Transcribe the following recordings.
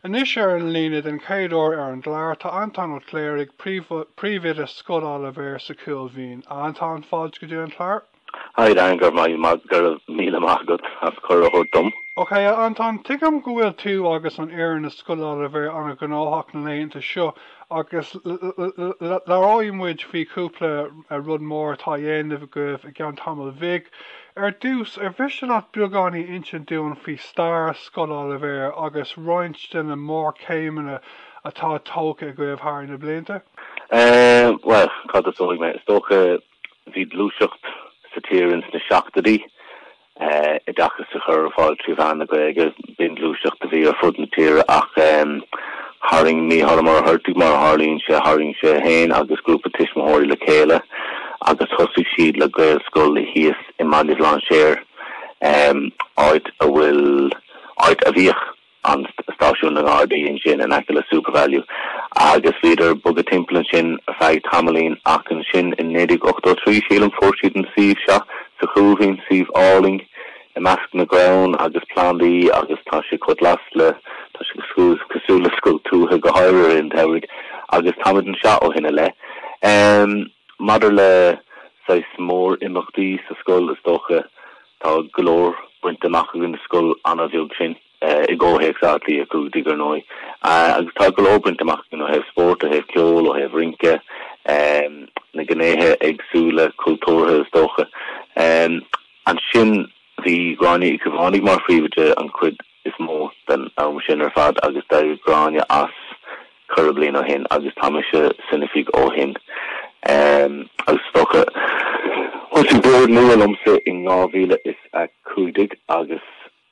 Anois ar an líne den chéad uair ar an gclár tá Antóin Ó Cléirigh, Príomhoide Scoil Oilibhéir sa Chúil Mhín. A Antóin, fáilte go dtí an clár. Hi Dan, go raibh míle maith agat as cuireadh a thabhairt dom. Ok, a Antóin, tuigim go bhfuil tú agus an fhoireann i Scoil Oilibhéir ana-ghnóthach na laethanta seo. Agus labhróidh muid faoi chúpla rud mór atá á dhéanamh agaibh i gceann tamaill bhig. Ar dtús, ar mhiste leat beagáinín insint dúinn faoi stair Scoil Oilibhéir agus roinnt de na mórchéimeanna atá tógtha agaibh thar na blianta? Bhuel, cá dtosóidh mé? Is dócha Bhí gluaiseacht sa tír ins na seachtoidí, oideachas a chur ar fáil trí mheán na Gaeilge. B'in gluaiseacht a bhí ar fud na tíre ach tharraing Mícheál Ó Muircheartaigh, mar a tharlaíonn sé, tharraing sé féin agus grúpa tuismitheoirí le chéile agus thosaigh siad le Gaelscoil thíos i mBaile Bhlainséir, áit a bhfuil, áit a bhíodh. an stáisiún na nGardaí ansin in aice le Supervalu agus bhíodar ag bogadh timpeall ansin ar feadh tamaillín ach ansin i 1983, sílim, fuair siad an suíomh seo sa Chúil Mhín, suíomh álainn i measc na gcrann agus plandaí agus tá sé chomh glas le, tá sé cosúil le scoil tuaithe go háirithe i rith an tsamhraidh agus táimid anseo ó shin i leith. Maidir le saghas mór imeachtaí sa scoil, is dócha, tá go leor bainte amach againn is scoil an-bheag sinn, i gcomhthéacs Átha Cliath 15 ar ndóigh, agus tá go leor bainte amach againn ó thaobh spóirt, ó thaobh ceoil, ó thaobh rince, na gnéithe éagsúla cultúrtha is dócha. Ansin bhí Gráinne Uí Chaomhánaigh mar phríomhoide an chuid. is mó den am sin ar fad agus d'éirigh Gráinne as cúpla bliain ó shin agus tá mise san oifig ó shin agus is dócha thosaigh an Bord nua liomsa in 2015 agus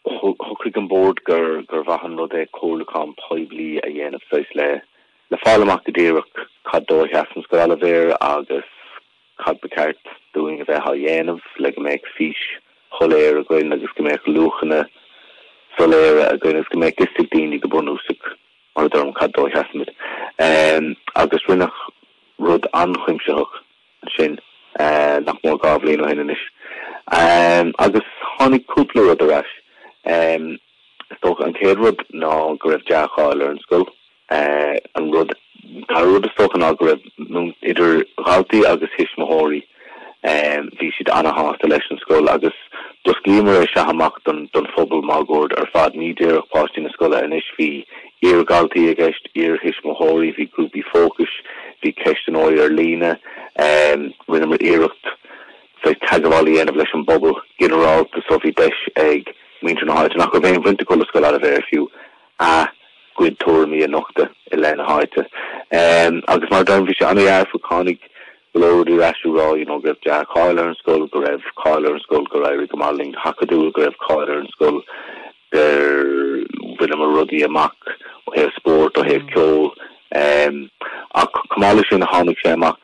shocraigh an Bord gur gur mhaith an rud é comhairliúchán poiblí a dhéanamh saghas le le fáil amach go díreach cad dó a sheasann Scoil Oilibhéir agus Cad ba cheart dúinn a bheith á dhéanamh le go mbeadh fís shoiléir againn agus go mbeadh luachanna soiléire againn agus go mbeadh 'fhios ag daoine go bunúsach mar a deirim cad dó a sheasaimid? Agus rinneadh rud an-chuimsitheach ansin nach mór dhá bhliain ó shin anois. Agus tháinig cúpla rud ar ais. Is dócha an chéad rud ná go raibh dea-cháil ar an scoil. An rud dara rud is dócha ná go raibh idir dhaltaí agus thuismitheoirí, bhí siad ana-shásta leis an scoil agus d'osclaíomar é seo amach don phobal máguaird ar fad. Ní díreach páistí na scoile anois, bhí iar-dhaltaí i gceist, iar-thuismitheoirí, bhí grúpaí fócais, bhí ceistneoirí ar líne. Rinneamar iarracht bheith teagmháil a dhéanamh leis an bpobal ginearálta so bhí deis ag muintir na háite, nach raibh aon bhaint acu le Scoil Oilibhéir fiú, a gcuid tuairimí a nochtadh i leith na háite. Agus mar a deirim, bhí sé an-dhearfach, tháinig go leor rudaí ar ais ag rá, you know, go raibh dea-cháil ar an scoil, go raibh cáil ar an scoil gur éirigh go maith linn go hacadúil, go raibh cáil ar an scoil gur bhaineamar rudaí amach ó thaobh spóirt, ó thaobh ceoil. Ach chomh maith leis sin, tháinig sé amach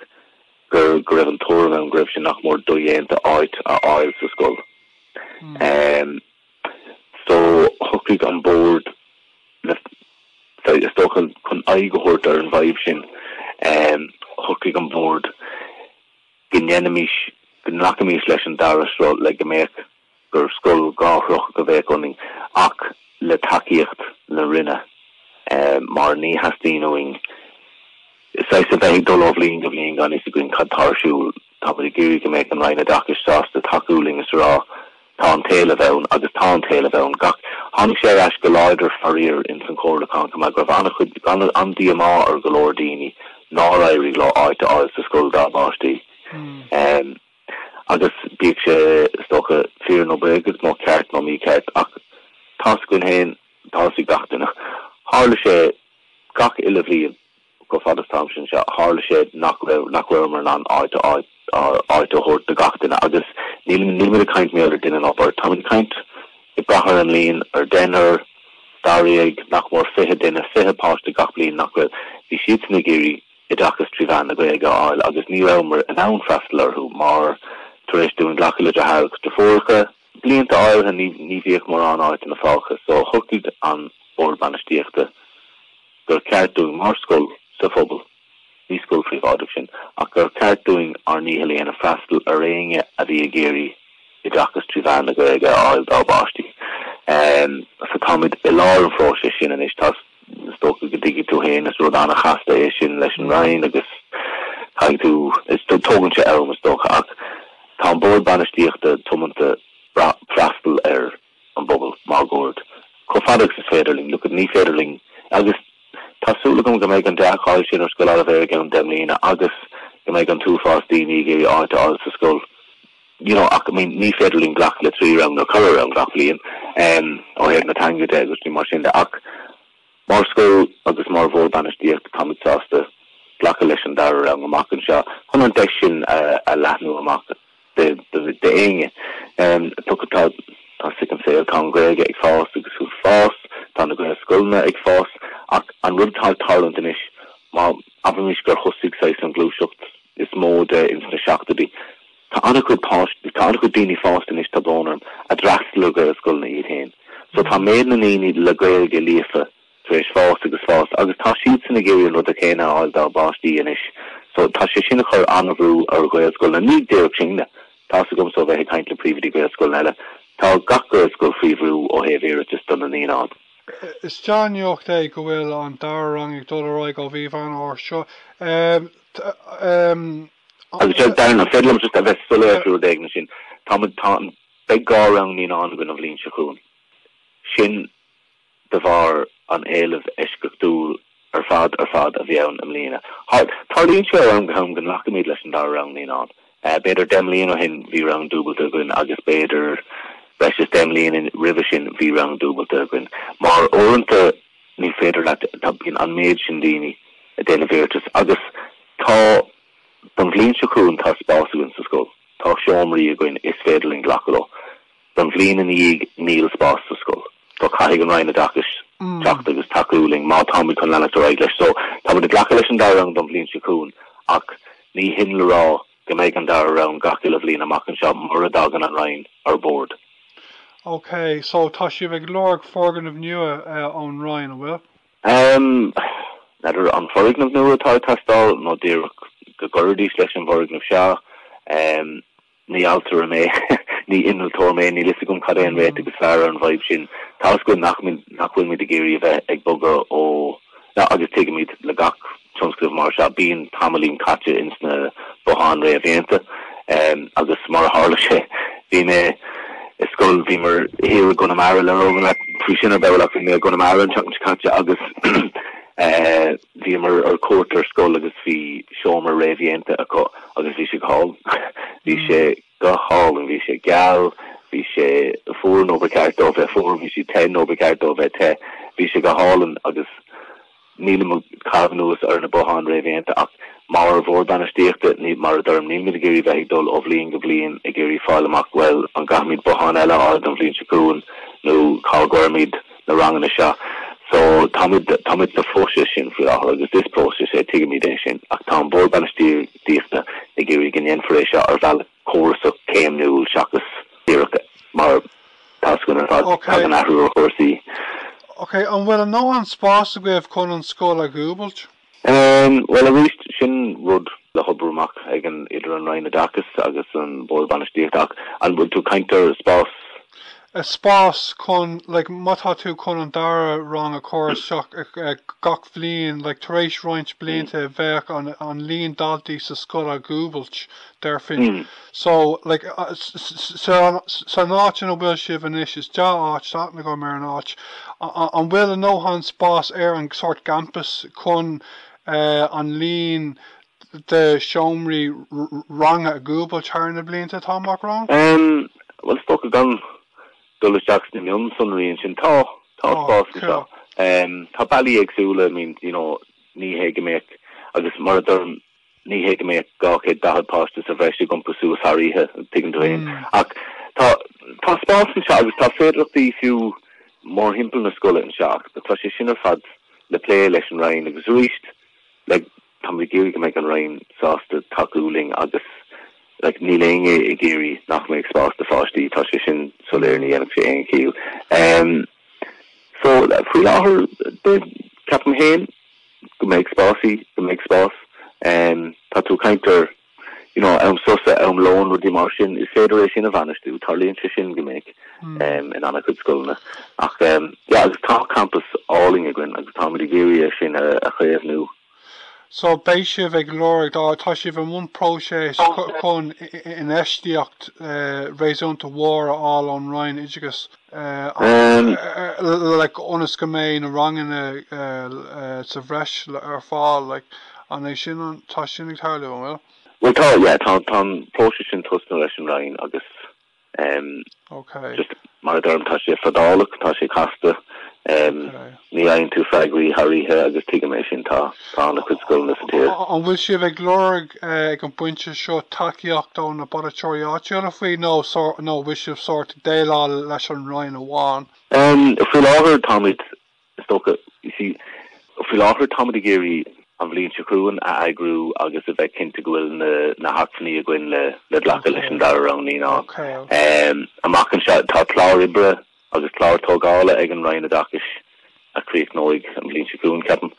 gur, go raibh an tuairim ann go raibh sé nach mór dodhéanta áit a fháil sa scoil. So, shocraigh an Bord le, sorry, is dócha chun aghaidh a thabhairt ar an bhfadhb sin, em, shocraigh an Bord go ndéanfaimis, go nglacfaimis leis an dara sruth le go mbeadh, gur scoil dhá shruth a bheadh ionainn ach le tacaíocht na Roinne, em, mar ní theastaíonn uainn, saghas, a bheith ag dul ó bhliain go bliain gan fhios againn cad tá ar siúl. Tá muid ag iarraidh go mbeadh an Roinn Oideachais sásta tacú linn is a rá 'tá an t-éileamh ann' agus tá an t-éileamh ann. Gach, tháinig sé ar ais go láidir faraor ins an chomhairliúchán chomh maith go raibh an-chuid, an-díomá ar go leor daoine nár éirigh leo áit a fháil sa scoil dá bpáistí. Agus bíodh sé, is dócha, fíor nó bréagach nó ceart nó mícheart ach tá's againn féin, tá's ag gach duine, tharla sé gach uile bhliain. Chomh fada is táimse anseo tharla sé nach raibh, nach rabhamar in ann áit a, áit a thabhairt do gach duine agus níl, nílimid ag caint, b'fhéidir, ar duine ná beirt, táimid ag caint, ag brath ar an líon, ar deichniúr, dáréag, nach mór fiche duine, fiche páiste gach bliain nach raibh, bhí siadsan ag iarraidh oideachas trí mheán na Gaeilge a fháil agus ní rabhamar in ann freastal orthu mar, tar éis dúinn glacadh le deartháireacha, deirfiúracha, Blianta áirithe ní bhíodh mórán áiteanna fágtha so shocraigh an Bord Bainistíochta gur cheart dúinn mar scoil sa phobal, ní scoil phríobháideach sinn, ach gur cheart dúinn ár ndícheall a dhéanamh freastal ar éinne a bhí ag iarraidh oideachas trí mheán na Gaeilge a fháil dá bpáistí. So táimid i lár an phróisis sin anois. Tá. is dócha go dtuigfidh tú féin is rud an-chasta é sin leis an Roinn agus caithfidh tú, is tógann sé am is dócha ach tá an Bord Bainistíochta tiomanta freastal ar an bpobal máguaird chomh fada agus is féidir linn. Look, ní féidir linn agus tá súil agam go mbeidh an dea-cháil sin ar Scoil Oilibhéir i gceann deich mbliana agus go mbeidh an t-uafás daoine ag iarraidh áit a fháil sa scoil. You know, ach, I mean, ní féidir linn glacadh le trí rang nó ceithre rang gach bliain, em, ó thaobh na teanga de agus rudaí mar sin de, ach mar scoil agus mar Bhord Bainistíochta táimid sásta glacadh leis an dara rang amach anseo chun an deis sin a leathnú amach d'éinne. Em, tuigfidh tá, tá sic an tsaoil, tá an Ghaeilge ag fás agus fuair fás, tá na Gaelscoileanna ag fás, ach an rud atá ag tarlúint anois, má abraimis gur thosaigh saghas an ghluaiseacht is mó de ins na seachtóidí, Tá an-chuid páistí, tá an-chuid daoine fásta anois, tá brón orm, a d'fhreastail ar Ghaelscoileanna iad féin. So tá méid na ndaoine le Gaeilge líofa tar éis fás agus fás agus tá siadsan ag iarraidh an rud céanna a fháil dá bpáistí anois. So tá sé sin a chur an-bhrú ar Ghaelscoileanna. Ní díreach sinne, tá's agam as a bheith ag caint le príomhoidí Gaelscoileanna eile, tá gach Gaelscoil faoi bhrú ó thaobh iarratais do na naíonáin. Is deá-nuacht é go bhfuil an dara rang ag dul ar aghaidh ó mhí Mheán Fhómhair seo. Agus ar ndóigh, an féidir liom just a bheith soiléir faoin taobh sin, tá muid, tá an, beidh dhá rang naíonán againn an bhliain seo chugainn. Sin de bharr an éilimh eisceachtúil ar fad, ar fad a bhí ann i mbliana. Thar, tarlaíonn sé ó am go ham go nglacaimid leis an dara rang naíonán. B'fhéidir deich mbliana ó shin bhí rang dúbailte againn agus b'fhéidir, breis is deich mbliana roimhe sin, bhí rang dúbailte againn. Mar uaireanta Ní féidir leat, tá, bíonn an méid sin daoine ag déanamh iarratas agus tá, don bhliain seo chugainn, tá spás againn sa scoil, tá seomraí againn, is féidir linn glacadh leo. Don bhliain ina dhiaidh, níl spás sa scoil. So caithfidh an Roinn Oideachais teacht agus tacú linn má táimid chun leanacht ar aghaidh leis. So táimid ag glacadh leis an dara rang don bhliain seo chugainn ach ní hin le rá go mbeidh an dara rang gach uile bhliain amach anseo mura dtagann an Roinn ar bord. OK, so tá sibh ag lorg foirgneamh nua ón Roinn, an bhfuil? N'fheadar an foirgneamh nua atá ag teastáil nó díreach go gcuirfidís leis an bhfoirgneamh seo. Ní ailtire mé, ní innealtóir mé, níl fhios agam cad é an réiteach is fearr ar an bhfadhb sin. Tá fhios agam nach bhfuil muid ag iarraidh a bheith ag bogadh ó, agus tuigimid le gach, tionscnamh mar seo bíonn tamaillín caite ins na botháin réamhdhéanta agus mar a tharla sé bhí mé i scoil, bhíomar thiar i gConamara labhróidh mé leat faoi sin ar ball ach bhí mé i gConamara an tseachtain seo caite agus bhíomar ar cuairt ar scoil agus bhí seomra réamhdhéanta acu agus bhí sé go hálainn. Bhí sé go hálainn, bhí sé geal, bhí sé fuar nuair ba cheart dó bheith fuar, bhí sé te nuair ba cheart dó bheith te, bhí sé go hálainn agus Nílim ag caitheamh anuas ar na botháin réamhdhéanta ach mar Bhord Bainistíochta, mar a deirim, nílimid ag iarraidh bheith ag dul ó bhliain go bliain ag iarraidh fáil amach, bhuel, an gcaithfimid bothán eile a fháil don bhliain seo chugainn nó cá gcuirfimid na ranganna seo. So, táimid, táimid sa phróiseas sin faoi láthair agus is próiseas é, tuigimid é sin, ach tá an Bord Bainistíochta ag iarraidh go ndéanfar é seo ar bhealach córasach céimniúil seachas díreach mar. tionscnamh ad hoc. Tagann athrú ar chúrsaí. Ok. An bhfuil a ndóthain spáis agaibh chun an scoil a dhúbailt? Em, bhuel, aríst, sin rud le hoibriú amach ag an, idir an Roinn Oideachais agus an Bord Bainistíochta. Ach an bhfuil tú, caint ar spás? Eh, spás chun, like, má tá tú chun an dara rang a chur isteach gach bliain, like, tar éis roinnt blianta, bheadh an, an líon daltaí sa scoil a dhúbailt, déarfainn. So, like, sa n-áit ina bhfuil sibh anois, is dea-áit, that, agam ar an áit. An bhfuil a ndóthain spás ar an sórt gcampas chun an líon de seomraí ranga a dhúbailt thar na blianta atá amach romhainn? Em, bhuel, is dócha gan dul isteach sna mionsonraí ansin, tá, tá spás anseo. Em, tá bealaí éagsúla, I mean, you know, ní hé go mbeadh, agus mar a deirim, Ní hé go mbeadh 240 páiste sa bhreis ag iompú suas thar oíche, tuigeann tú fhéin, ach tá spás anseo agus tá féidearthachtaí fiú mórthimpeall na scoile anseo ach tá sé sin ar fad le plé leis an Roinn agus arís tá muid ag iarraidh go mbeidh an Roinn sásta tacú linn agus like níl éinne ag iarraidh nach mbeidh spás do pháistí, tá sé sin soiléir, ní dhéanfadh sé aon chiall. So, faoi láthair, ceapaim féin go mbeidh spás, go mbeidh spás. Tá tú ag caint ar, you know, am sosa, am lóin, rudaí mar sin, is féidir é sin a bhainistiú, tarlaíonn sé sin go minic hmm. in an-chuid scoileanna. Ach, yeah, agus tá campus álainn againn agus táimid ag iarraidh sin a chaomhnú. So beidh sibh ag lorg, tá sibh i mbun próiseas chun infheistíocht réasúnta mhór a fháil ón Roinn Oideachais like ionas go mbeidh na ranganna sa bhreis ar fáil, like an é sin, tá sin ag tarlú, an bhfuil? Bhuel tá, yeah, tá an próiseas sin tosnaithe leis an Roinn agus Um, okay. Just mar a deirim, tá sé fadálach, tá sé casta. Um, okay. Ní fhaigheann tú freagraí thar oíche agus tuigimid é sin tá, tá an-chuid scoileanna sa tír. An bhfuil sibh ag lorg eh, ag an bpointe seo tacaíocht ó na polaiteoirí áitiúla faoi nó, nó bhfuil sibh sórt ag déileáil leis an Roinn amháin? Um, faoi láthair táimid Is dócha, you see, faoi láthair táimid ag iarraidh an bhliain seo chugainn a eagrú agus a bheith cinnte go bhfuil na, na hacmhainní againn le, le glacadh leis an dara rang naíonán. Um, amach anseo tá clár oibre agus clár tógála ag an Roinn Oideachais a chríochnóidh an bhliain seo chugainn ceapaim.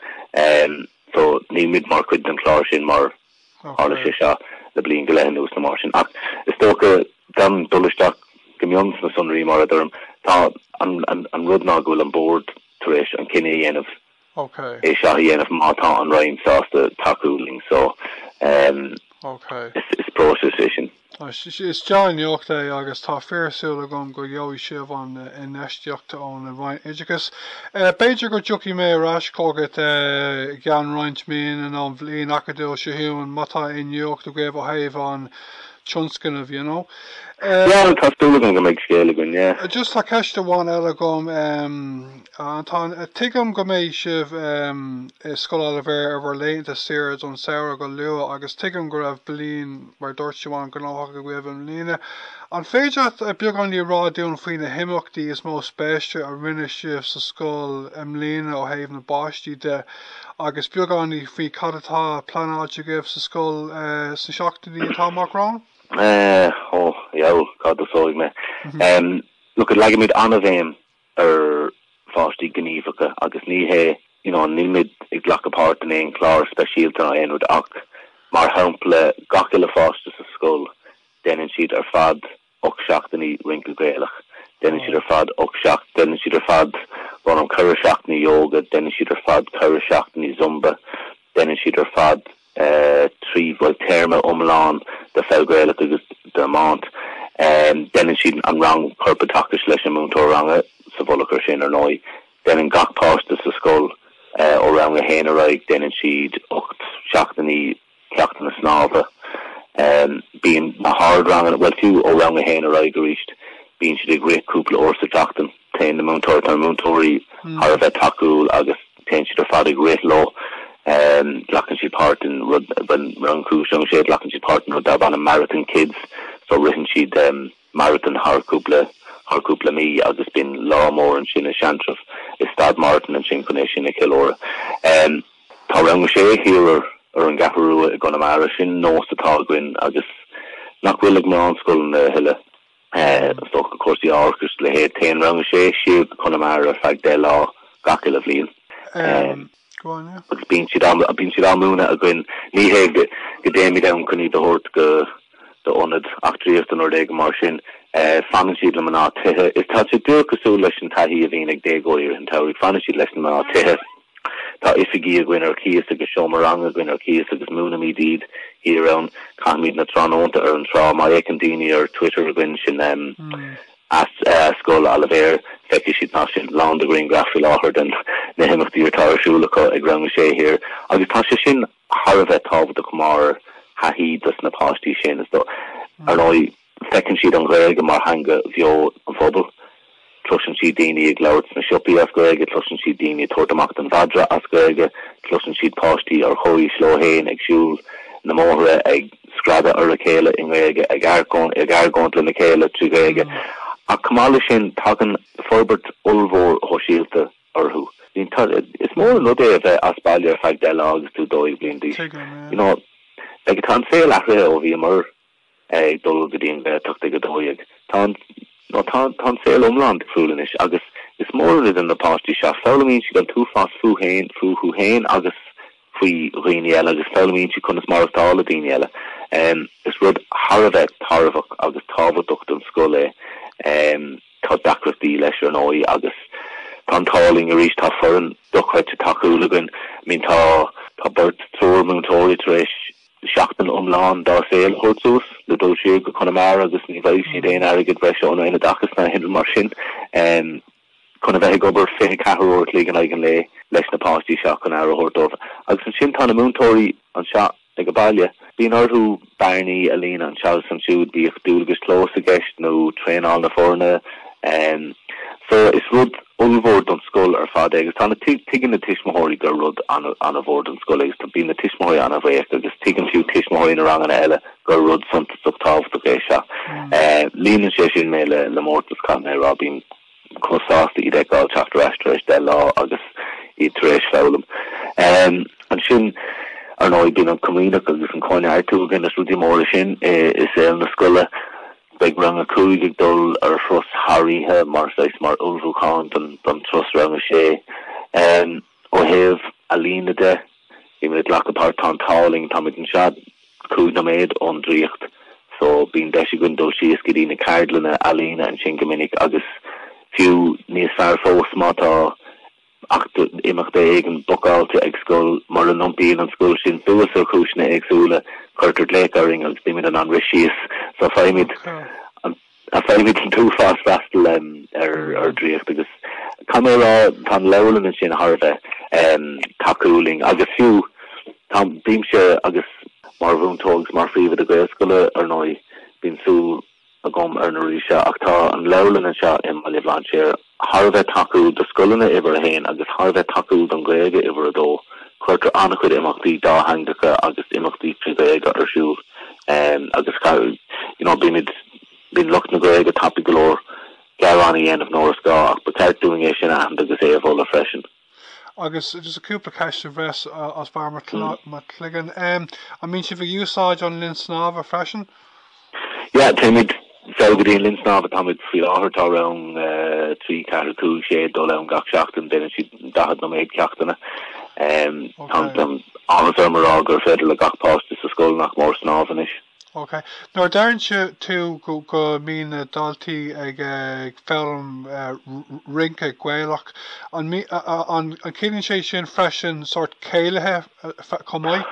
Um, so níl muid mar chuid den chlár sin mar Tharla sé seo le bliain go leith anuas nó mar sin ach is dócha, gan dul isteach go mion sna sonraí mar a deirim, tá, an rud ná go bhfuil an Bord tar éis an cinneadh a dhéanamh é seo a dhéanamh má tá an Roinn sásta tacú linn so is próiseas é sin. Is dea-nuacht é agus tá fíorshúil agam go bhfaighidh sibh an infheistíocht ón Roinn Oideachais. B'fhéidir go dtiocfaidh mé ar ais chugat i gceann roinnt míonna nó an bhliain acadúil seo chugainn má tá aon nuacht agaibh ó thaobh an tionscnaimh, you know. Yeah, tá súil agam go mbeidh scéal againn, yeah. Just tá ceist amháin eile agam. Antain, Tuigim go mbeidh sibh i Scoil Oilibhéir ar bhur laethanta saoire don samhradh go luath agus tuigim go raibh bliain, mar a dúirt Siubhán, gnóthach agaibh i mbliana. An féidir leat beagáinín a rá dúinn faoi na himeachtaí is mó spéise a rinne sibh sa scoil i mbliana ó thaobh na bpáistí de agus beagáinín faoi cad atá pleanáilte agaibh sa scoil sna seachtainí atá amach romhainn? Ó, bhuel, cá dtosóidh mé? Look, leagaimid an-bhéim ar pháistí gníomhacha agus ní hé you know níl muid ag glacadh páirt in aon chlár speisialta ná aon rud ach mar shampla gach uile pháiste sa scoil déanann siad ar fad ocht seachtainí rince Gaelach déanann siad ar fad ocht seach déanann siad ar fad bhuel an cúpla seachtainí ióga déanann siad ar fad cúpla seachtainí zumba déanann siad ar fad trí bhuel téarma iomlán de pheil Ghaelach agus d'iomáint. Déanann siad an rang corpoideachais leis an múinteoir ranga sa mhullach ar sin, ar ndóigh. Déanann gach páiste sa scoil, ó rang a haon ar aghaidh, déanann siad ocht seachtainí ceachtanna snámha. Bíonn na hardranganna, bhuel fiú ó rang a haon ar aghaidh arís, bíonn siad ag rith cúpla uair sa tseachtain. Téann na múinteoirí, tá na múinteoirí thar a bheith tacúil agus téann siad ar fad ag rith leo. Glacann siad páirt in rud, rang a cúig is a sé, glacann siad páirt in rud darb ainm Marathon Kids so ritheann siad marathon thar cúpla thar cúpla mí agus bíonn lá mór ansin i Seantrabh i Staid Morton ansin chun é sin a cheiliúradh. Tá rang a sé thiar ar an gCeathrú Rua i gConamara, sin nós atá againn agus nach bhfuil ag mórán scoileanna a thuilleadh. So cúrsaí mar sin is a leithéid, téann rang a sé, siar go Conamara ar feadh deich lá gach uile bhliain. Agus bíonn siad á múineadh againn. Ní hé go dtéimid ann chun iad a thabhairt go hionad eachtraíochta nó rud éigin mar sin. Fanann siad leis na mná tithe. Is tá sé díreach cosúil leis an taithí a bhíonn ag déagóirí i rith an tsamhraidh. Fanann siad leis na mná tithe. Tá oifigí againn ar cíos agus seomra ranga againn ar cíos agus múinimid iad thiar ann. Caithimid na tráthnónta ar an trá. Má fhéachann daoine ar Twitter againn, sin at Scoil Oilibhéir, feicfidh siad tá sé lán de ghrianghraif faoi láthair de na himeachtaí atá ar siúl acu ag Rang a Sé thiar. Agus tá sé sin thar a bheith tábhachtach mar thaithí dos na páistí sin. Ar ndóigh. Feiceann siad an Ghaeilge mar theanga bheo an phobail. Cloiseann siad daoine ag labhairt sna siopaí as Gaeilge, cloiseann siad daoine ag tabhairt amach don mhadra as Gaeilge, cloiseann siad páistí ar chomhaois leo féin ag siúl na mbóithre, ag screadadh ar a chéile i nGaeilge, ag argóint lena chéile trí Ghaeilge. Ach chomh maith leis sin, tagann forbairt ollmhór shóisialta orthu. Is mór an rud é a bheith as baile ar feadh deich lá agus tú 12 bliain d'aois. Agus tá an saol athraithe ó bhíomar ag dul go dtí an Ghaeltacht ag a dó dhéag. Tá an, ó tá tá an saol iomlán difriúil anois agus is mór an rud an na páistí seo, foghlaimíonn siad an t-uafás fúthu féin, fúthu féin agus faoi dhaoine eile agus foghlaimíonn siad conas maireachtáil le daoine eile. Is rud thar a bheith tairbheach agus tábhachtach don scoil é. Tá deacrachtaí leis ar ndóigh agus tá an t-ádh linn arís, tá foireann dochreidte tacúil againn. I mean tá tá beirt, triúr múinteoirí tar éis, Seachtain iomlán dá saol a thabhairt suas, le dul siar go Conamara agus ní bhfaighidh siad aon airgead breise ón Roinn Oideachais ná aon ní mar sin, chun a bheith ag obair fiche ceathair uair a chloig in aghaidh an lae leis na páistí seo chun aire a thabhairt dóibh. Agus ansin tá na múinteoirí anseo ag a baile, bíonn orthu bearnaí a líonadh anseo agus ansiúd, bíodh dualgais chlóis i gceist nó traenáil na foirne. So, is rud. ollmhór don scoil ar fad é agus tá na, tuigeann na tuismitheoirí gur rud an-mhór don scoil é agus bíonn na tuismitheoirí an-bhuíoch agus tuigeann fiú tuismitheoirí na ranganna eile gur rud suntasach tábhachtach é seo. Líonann sé sin mé le le mórtas caithfidh mé a rá, bím chomh sásta iad a fheiceáil ag teacht ar ais tar éis deich lá agus iad tar éis foghlaim. Ansin ar ndóigh bíonn an chomaoineach agus an cóineartú agus rudí móra sin i saol na scoile. Beidh Rang 5 ag dul ar thuras thar oíche mar saghas mar ullmhúchán don turas Rang 6. Ó thaobh ealaíne de, bímid ag glacadh páirt Tá an t-ádh linn, táimid anseo cúig nóiméad ón Draíocht so bíonn deis againn dul síos go dtí na ceardlanna ealaíne ansin go minic agus fiú níos fearr fós má tá Imeacht éigin bookáilte ag scoil, mura n-iompaíonn an scoil sin suas ar chúiseanna éagsúla, cuirtear glaoch orainn agus bímid in ann rith síos. So faighimid an faighimid an t-uafás freastal ar Draíocht agus caithfidh mé a rá, tá an leabharlann ansin thar a bheith tacúil linn agus fiú, tá, bímse agus mar mhúinteoir agus mar phríomhoide Gaelscoile, ar ndóigh, bíonn súil. agam ar na rudaí seo ach tá an leabharlann anseo i mBaile Bhlainséir thar a bheith tacúil do scoileanna uimhir a haon agus thar a bheith tacúil don Ghaeilge uimhir a dó. Cuirtear an-chuid imeachtaí dátheangacha agus imeachtaí trí Ghaeilge ar siúl agus you know bímid bíonn lucht na Gaeilge tapaidh go leor gearáin a dhéanamh nuair is gá ach ba cheart dúinn é sin a aithint agus é a mholadh freisin. Agus just cúpla ceist bhreise as barr mo chloigeann. An mbíonn sibh ag úsáid an linn snámha freisin? Yeah, téimid fós go dtí an linn snámha. Táimid faoi láthair, tá rang a trí, ceathair, cúig, sé ag dul ann gach seachtain. Déanann siad daichead nóiméad ceachtanna. Tá an-áthas orm a rá gur féidir le gach páiste sa scoil nach mór snámh anois. Ok. Nuair a deireann tú go mbíonn na daltaí ag foghlaim rince Gaelach, an ciallaíonn sé sin freisin sórt céilithe chomh maith?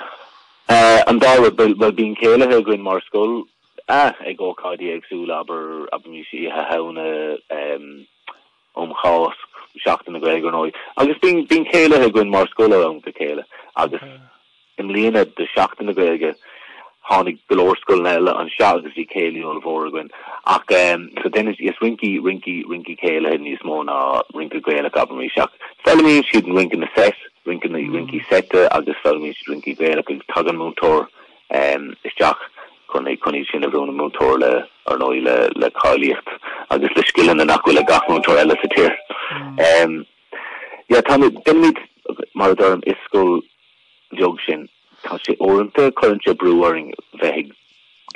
An dá rud. Bhuel, bíonn céilithe againn mar scoil ag ócáidí éagsúla, abair, abair, oíche Shamhna, um chás Sheachtain na Gaeilge, ar ndóigh, agus bíonn bíonn céilithe againn mar scoil ann go céile agus i mbliana do Sheachtain na Gaeilge tháinig go leor scoileanna eile anseo agus bhí céilí ollmhór againn ach so déanann siad is rincí rincí rincí céilithe níos mó ná rince Gaelach abraimis ach foghlaimíonn siad rince na set rince na rincí seite agus foghlaimíonn siad rincí Gaelach agus tagann múinteoir isteach chun iad sin a mhúineadh. Múinteoir le, ar ndóigh, le le cáilíocht agus le scileanna nach bhfuil ag gach múinteoir eile sa tír. Yeah, tá déanaimid mar a deirim is scoil bheag sinn tá sé uaireanta cuireann sé brú orainn bheith ag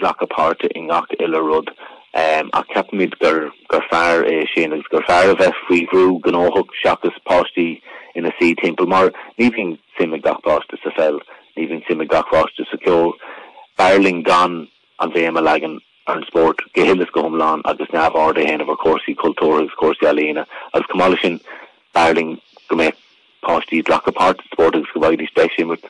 glacadh páirte i ngach uile rud um, ach ceapaimid gur gur fearr é sin agus gur fearr a bheith faoi bhrú gnóthach seachas páistí ina suí timpeall mar ní bhíonn suim ag gach páiste sa pheil Ní bhíonn suim ag gach páiste sa cheol. B'fhearr linn gan an bhéim a leagan ar an spórt go huile is go hiomlán agus neamhaird a dhéanamh ar chúrsaí cultúrtha agus cúrsaí ealaíona. Agus chomh maith leis sin, b'fhearr linn go mbeadh páistí ag glacadh páirt sa spórt agus go bhfaighidís deis imirt,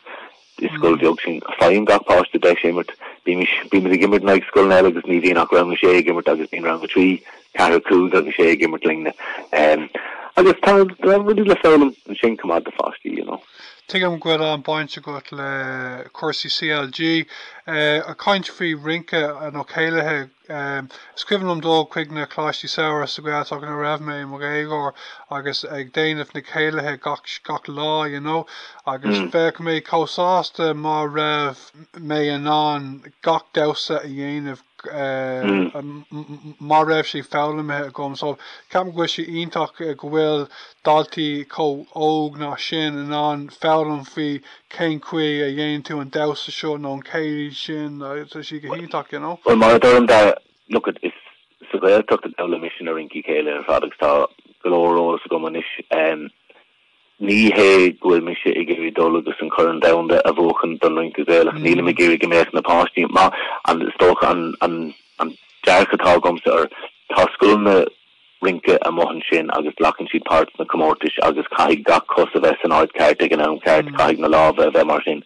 is scoil bheag sinn. Faigheann gach páiste deis imirt. Bímis, bímid ag imirt in aghaidh scoileanna eile agus ní bhíonn ach Rang 6 ag imirt agus bíonn Rang 3, 4, 5 agus 6 ag imirt linne. Agus tá rudaí le foghlaim ansin chomh maith do pháistí, you know. Tuigim go bhfuil an-baint agat le cúrsaí CLG. Ag caint faoi rince nó céilithe, is cuimhin liom dul chuig na Coláistí Samhraidh sa Ghaeltacht nuair a raibh mé i mo dhéagóir agus ag déanamh na céilithe gach lá you know agus bheadh mé chomh sásta má raibh mé in ann gach damhsa a dhéanamh má raibh sé foghlamtha agam. So, ceapaim go bhfuil sé iontach go bhfuil daltaí chomh óg ná sin in ann foghlaim faoi cén chaoi a dhéanann tú an damhsa seo nó an céilí sin. Tá sí go hiontach, you know. Bhuel, mar a deirim, look it, is sa Ghaeltacht a d'fhoghlaim mise na rincí céilí ar fad agus tá go leor eolas agam anois Ní hé go bhfuil mise ag iarraidh dul agus an Corn Domhanda a bhuachan don Rince Gaelach, nílim ag iarraidh go mbeadh na páistí maith, an, is dócha an dearcadh atá agamsa air. Tá scoileanna rince amuigh ansin agus glacann siad páirt sna comórtais agus caithfidh gach cos a bheith san áit cheart ag an am cheart, caithfidh na lámha a bheith mar sin.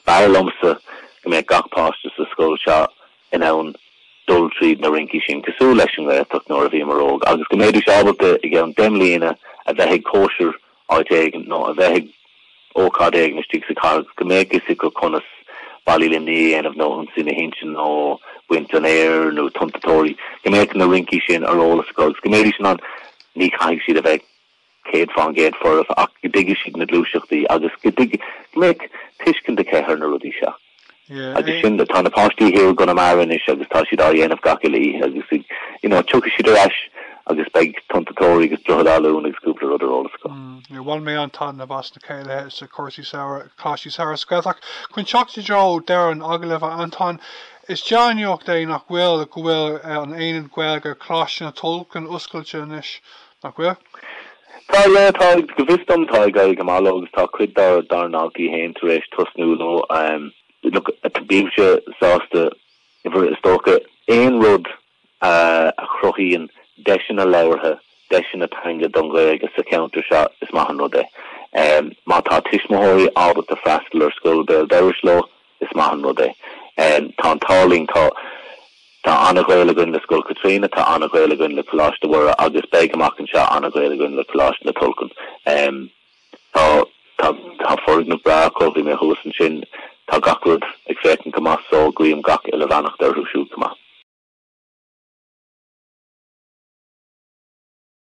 B'fhearr liomsa go mbeadh gach páiste sa scoil seo in ann dul tríd na rincí sin cosúil leis an nGaeltacht nuair a bhíomar óg agus go mbeidís ábalta i gceann deich mbliana a bheith ag cóisir áit éigin nó a bheith ag ócáid éigin istigh sa chathair go mbeadh a fhios acu conas Ballaí Luimní a dhéanamh nó Ionsaí na hInse nó Baint an Fhéir nó Tonnta Toraí, go mbeadh na rincí sin ar eolas acu agus go mbeidís in ann Ní chaithfidh siad a bheith 100 fán gcéad foirfe ach go dtuigfidh siad na gluaiseachtaí agus go dtuigfidh, go mbeidh tuiscint acu ar na rudaí seo. Agus sin, tá na páistí thiar i gConamara anois agus tá siad á dhéanamh gach uile oíche agus ag, you know, tiocfaidh siad ar ais agus beidh Tonnta Toraí agus Droichead Átha Luain agus cúpla rud ar eolas acu. Bhain mé an-taitneamh as na céilithe sna cúrsaí, sna coláistí samhraidh sa Ghaeltacht. Chun teacht i dtreo dheireadh an agallaimh, a Antóin, is dea-nuacht é nach bhfuil, go bhfuil an Aonad Gaeilge Coláiste na Tulchann oscailte anois. Nach bhfuil? Tá, yeah, tá, go bhfios dom tá ag éirí go maith leo agus tá cuid dár dár ndaltaí fhéin tar éis tosnú leo. Um, look, a- bímse sásta mar is dócha aon rud uh, a chruthaíonn deiseanna labhartha, deiseanna teanga don Ghaeilge sa cheantar seo is maith an rud é. Um, má tá tuismitheoirí ábalta freastal ar scoil béal dorais leo, Is maith an rud é. Tá an t-ádh linn. Tá an-ghaol againn le Scoil Chaitríona, tá an-ghaol againn le Coláiste Mhuire agus beidh, amach anseo, an-ghaol againn le Coláiste na Tulchann. Tá foirgneamh breá acu. Bhí mé thuas ansin. Tá gach rud ag féachaint go maith so guím gach uile bheannacht orthu siúd chomh maith.